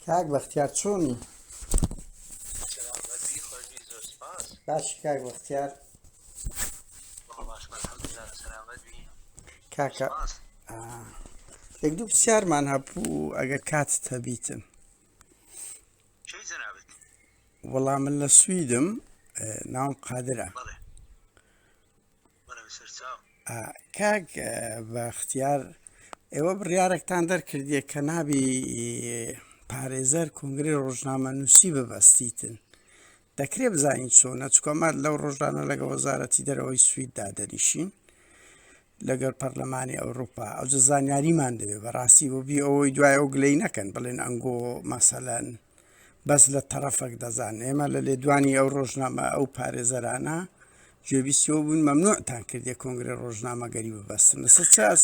کاک بەختیار چۆنی باش کاک بەختیار کاکە یەک دوو پرسیارمان هەبوو ئەگەر کات هەبیتن وەڵام من لە سویدم ناوم قادرە کاک بەختیار ئێوە بڕیارێکتان دەرکردیە کە نابی پارێزەر کنگری ڕۆژنامە نووسی ببەستیتن دەکرێ بزانین چۆنە چکۆمات لەو ڕۆژانە لەگە وەزارەتی دەرەوەی سویددا دەنیشین لەگەر پەرلەمانی ئەوروپا ئەو زانیاریمان دەوێت بەڕاستی بۆ بی ئەوەی دوای ئەو گلەی نەکەن بڵێن ئەنگۆ مەسەلەن بەس لە تەڕەفەک دەزان ئێمە لە لێدوانی ئەو ڕۆژنامە ئەو پارێزەرانە گوێبیستەوە بوون مەمنوعتان کردێ کۆنگرە ڕۆژنامەگەری ببەستن لەسەر چاس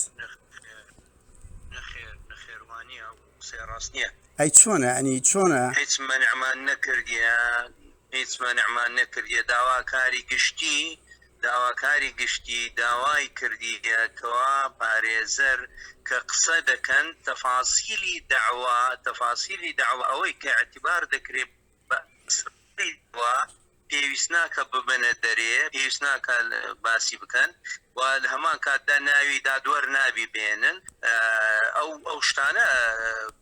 ئەی چۆنە ئەنی چۆنە هیچ منعمان نەکردیان هیچ مەنعمان نەکردیە داواکاری گشتی داواکاری گشتی داوای کردیە کوا پارێزەر کە قسە دەکەن تەفاسیلی دەعوا تەفاسیلی دەعوا ئەوەی کە ئیعتبار دەکرێ بە ئەسڵی دەعوا پێویست ناکە ببەنە دەرێ پێویست ناکە باسی بکەن و لە هەمان کاتدا ناوی دادوەر نابی بێنن ئەو ئەو شتانە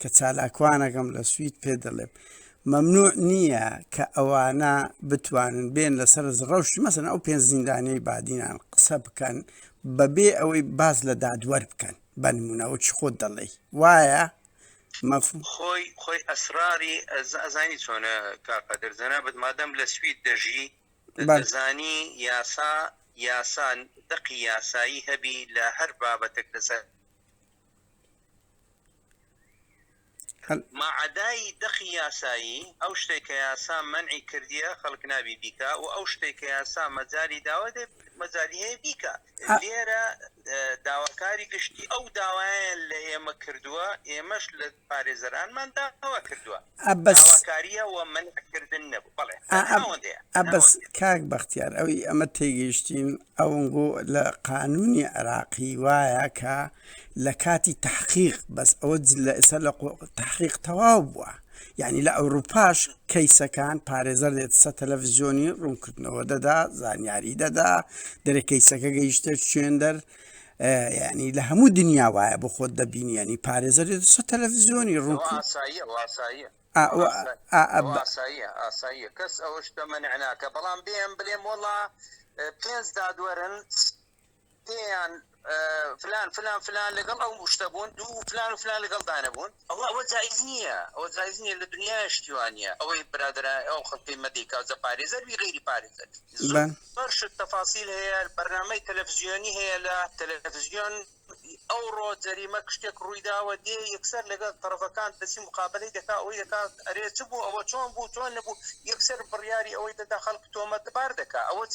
کە چالاکوانەکەم لە سوید پێ دەڵێم مەمنوع نییە کە ئەوانە بتوانن بێن لەسەر ڕەوشی مەسن ئەو پێنج زیندانەی بادینان قسە بکەن بەبێ ئەوەی باز لە دادوەر بکەن بەنمونەوە چ خۆت دەڵێی وایە مەفهوم خۆی خۆی ئەسراری ئەزانی چۆنە کاکە دەرزەنا بەت مادەم لە سوید دەژی بەزانی یاسا یاسان دقی یاسایی هەبی لە هەر بابەتێک لەسەر ماعەدای دەقی یاسایی، ئەو شتەی کە یاسا مەنعی کردیە خەڵک نابی بیکا و ئەو شتەی کە یاسا مەجالی داوە دەبێ مەجالی هەیە بیکا. لێرە داواکاری گشتی ئەو داوایان لە ئێمە کردووە، ئێمەش لە پارێزەرانمان داوا کردووە. عەبەس. داواکارییە و مەنعکردن نەبوو. بەڵێ. ئا ئەب ناوەندەیە. عەبەس، ناوەندەیە. کاک بەختیار ئەوی ئەمە تێگەیشتین ئەونگۆ لە قانوونی عێراقی وایە کە لە کاتی تەحقیق بەس ئەوە ج لە ئێستا لە قۆ تەحقیق تەواو بووە یانی لە ئەوروپاش کەیسەکان پارێزەر دێت سە تەلەفزیۆنی ڕوونکردنەوە دەدا زانیاری دەدا دەرێ کەیسەکە گەیشتە شوێندەر ینی لە هەموو دنیا وایە بۆ خۆت دەبینی ینی پارێزەر سە تەلەڤزیۆنی ڕوو ئاساییە کەس ئەوە شتە منعناکە بەڵام بێم بلێم وڵا پێنج دادوەرن پێیان فلان فلان فلان لەگەڵ ئەو شتە بوون دوو فلان و فلان لەگەڵ دانەبوون ئەوە ئەوە جایز نییە ئەوە جایز نییە لە دنیا شتی وانە ئەوەی برادرا ئەو خەڵکی مەدیکا جە پارێزەر بی غیری پارێزەر بەرشت تەفاسیل هەیە بەرنامەی تەلەفزیۆنی هەیە لە تەلەفزیۆن ئەو ڕۆ جەریمە کشتێک ڕوویداوە دێ یەکسەر لەگەڵ تەرەفەکان دەسی مقابلەی دەکا ئەوەی دەکا ئەرێ چ بوو ئەوە چۆن بوو چۆن نەبوو یەکسەر بڕیاری ئەوەی دەدا خەڵک تۆمەتبار دەکا ئەوە چ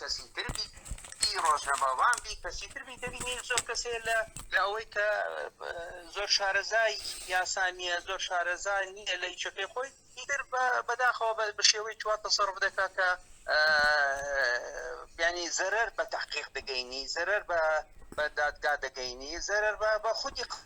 کەسی تر بی ڕۆژنەماوان بی کەسی تر بی دەبینین زۆر کەسێ لە لە ئەوەی کە زۆر شارەزای یاسانیە زۆر شارەزای نییە لە یچەکەی خۆی تر بەداخەوە بە شێوەی چوار تەسەڕف دەکات کە بیانی زەرەر بە تحقیق دەگەینی زەرەر بە بە دادگا دەگەینی زەرەر بە بە خودی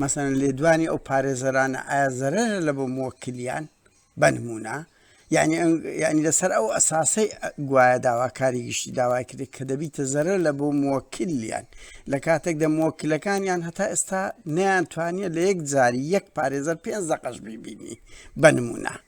مەسەلەن لێدوانی ئەو پارێزەرانە ئایا زەرەرە لە بۆ موەکلیان بەنمونە یعنی یعنی لەسەر ئەو ئەساسەی گوایە داواکاری گشتی داوای کرێت کە دەبیتە زەرە لە بۆ موەکلیان لە کاتێک دە موەکلەکانیان هەتا ئێستا نیان توانیە لە یەک جاری یەک پارێزەر پێنج دەقەش بیبینی بەنمونە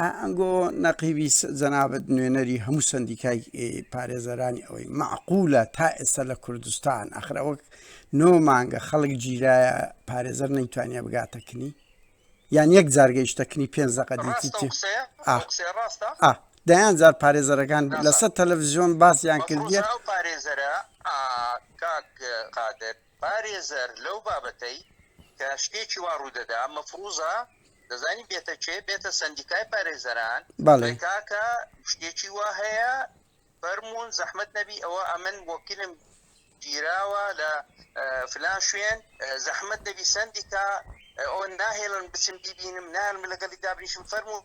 ئەنگۆ نەقیبی جەنابەت نوێنەری هەموو سندیکای پارێزەرانی ئەوەی معقولە تا ئێستا لە کوردستان ئەخرا وەک نۆ مانگە خەڵک گیرایە پارێزەر نەیتوانیا بگاتەکنی یان یەک جارگەیشتەکنی پێ زەقە دەیان جار پارێزەرەکان لەسەر تەلەڤزیۆن باسیان کردیە پارێزەرە قادر پارێزەر لەو بابەتەی کە شتێکی وا ڕوودەدا مەفروزە دەزانی بێتە کێ بێتە سندیکای پارێزەران بەڵێ کاکە شتێکی وا هەیە فەرمونون زەحمت نەبی ئەوە ئەمن وەکیلم گیراوە لە فلان شوێن زەحمت نەبی سندیکا ئەو ناهێڵن بچم بیبینم نان لەگەڵی دابنیشم فەرمونون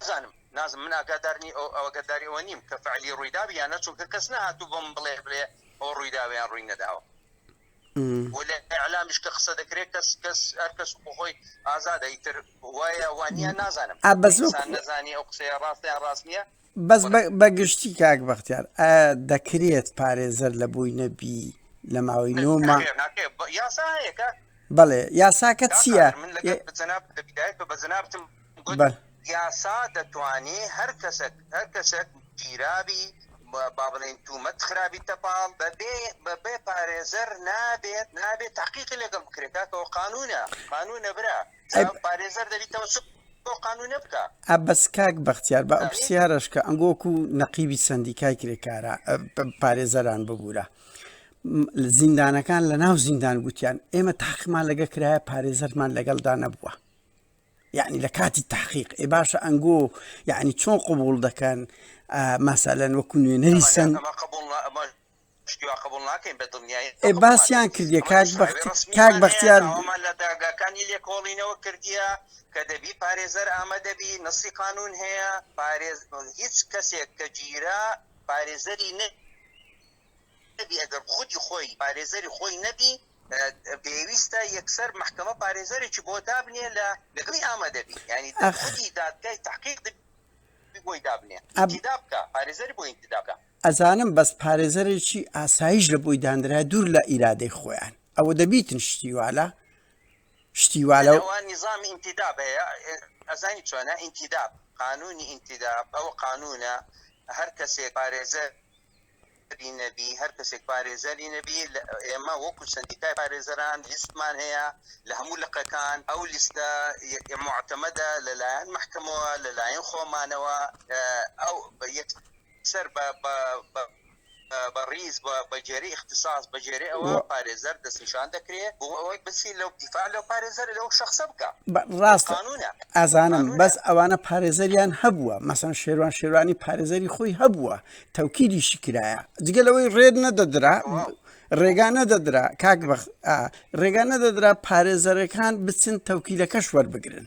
نازانم نازم من ئاگادارنی ئەو ئەوگەداری ئەوە نیم کە فعلی ڕوویداوی یانە چونکە کەس نهاتوو بۆم بڵێ بڵێ ئەو ڕوویداویان ڕووی نەداوە ئەلامیش کە قسە دەکرێت کەس کەس هەر کەس بخۆی ئازادە ئیتر وایە وانە نازانم نازانی ئەو قسەیە ڕاستیان ڕاست نییە بەس بە گشتی کاک بەختیار دەکرێت پارێزەر لە بووی نەبی لە ماوەی نۆمە بەڵێ یاساکە چییە یاسا دەتوانێ هەر کەسێک هەر کەسێک گیرابی با بڵێن تومەت خرابی تەپاڵ بەبێ بەبێ پارێزەر نابێت نابێت تاقیقی لەگەڵ بکرێت کاکەەوە قانونە قانونە برا بەس کاک بەختیار بە پرسیارەشکە ئەنگۆک و نەقیبی سندیکای کرێکارە پارێزەران ببوورە زیندانەکان لە ناو زیندان گوتیان ئێمە تاقمان لەگە کرایە پارێزەرمان لەگەڵدا نەبووە یعنی لە کاتی تحقیق ئێ باشە ئەنگۆ یعنی چۆن قوبول دەکەن ماسالەن وەکو نوێنەری سند ئێ باسیان کردیە کاک بەختی کاک بەختیار ئەوەمان لە داگاکانی لێکۆڵینەوە کردیە کە دەبی پارێزەر ئامادەبی نەسی قانون هەیە پارێز هیچ کەسێک کە گیرا پارێزەری نە نەبی ئەگەر خودی خۆی پارێزەری خۆی نەبی پێویستە یەکسەر محکمە پارێزەرێکی بۆ دابنێ لە لەگەڵی ئامادەبی ینی داخودی دادگای تحقیق بۆی دابنێ ئەبدا بکە پارێزەری بۆ ئینتدابکە ئەزانم بەس پارێزەرێکی ئاسایش لە بۆی داندرایە دوور لە ئیرادەی خۆیان ئەوە دەبیتن شتی والە شتی والە نظامی ئینتیداب هەیە ئەزانی چۆنە ئینتیداب قانونی ئینتیداب ئەو قانونە هەر کەسێک پارێزەر نەبی هەر کەسێک پارێزەری نەبی ئێمە وەکو سندیکای پارێزەران لیستمان هەیە لە هەموو لقەکان ئەو لیستە معتەمەدە لەلایەن محکمەوە لەلایەن خۆمانەوە ئەو یەک سەر بە بە بە بە ڕیز بە بەجێری اختصاص بەجێری ئەوە و- پارێزەر دەستنیشان دەکرێت بۆ ئەوەی بچی لەو دیفاع لەو پارێزەر لەو شخصە بکە بە- ڕاستە قانونە ئازانم قانونە. بەس ئەوانە پارێزەریان هەبووە مەسەن شێروان شێروانی پارێزەری خۆی هەبووە تەوکیدیشی کرایە جگە لەوەی ڕێد نەدەدرا تەواو. ڕێگا نەدەدرا کاک بەخ ئا، ڕێگا نەدەدرا پارێزەرەکان بچن تەوکیلەکەش وەربگرن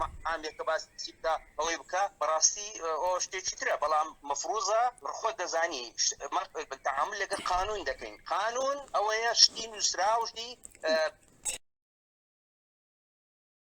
مەحامێکە باسی بکە ئەوەی بکە بەڕاستی ئەو شتێکی ترە بەڵام مەفروزە خۆت دەزانی تەعامل لەگە قانون دەکەین قانون ئەوەیە شتی نووسراوشی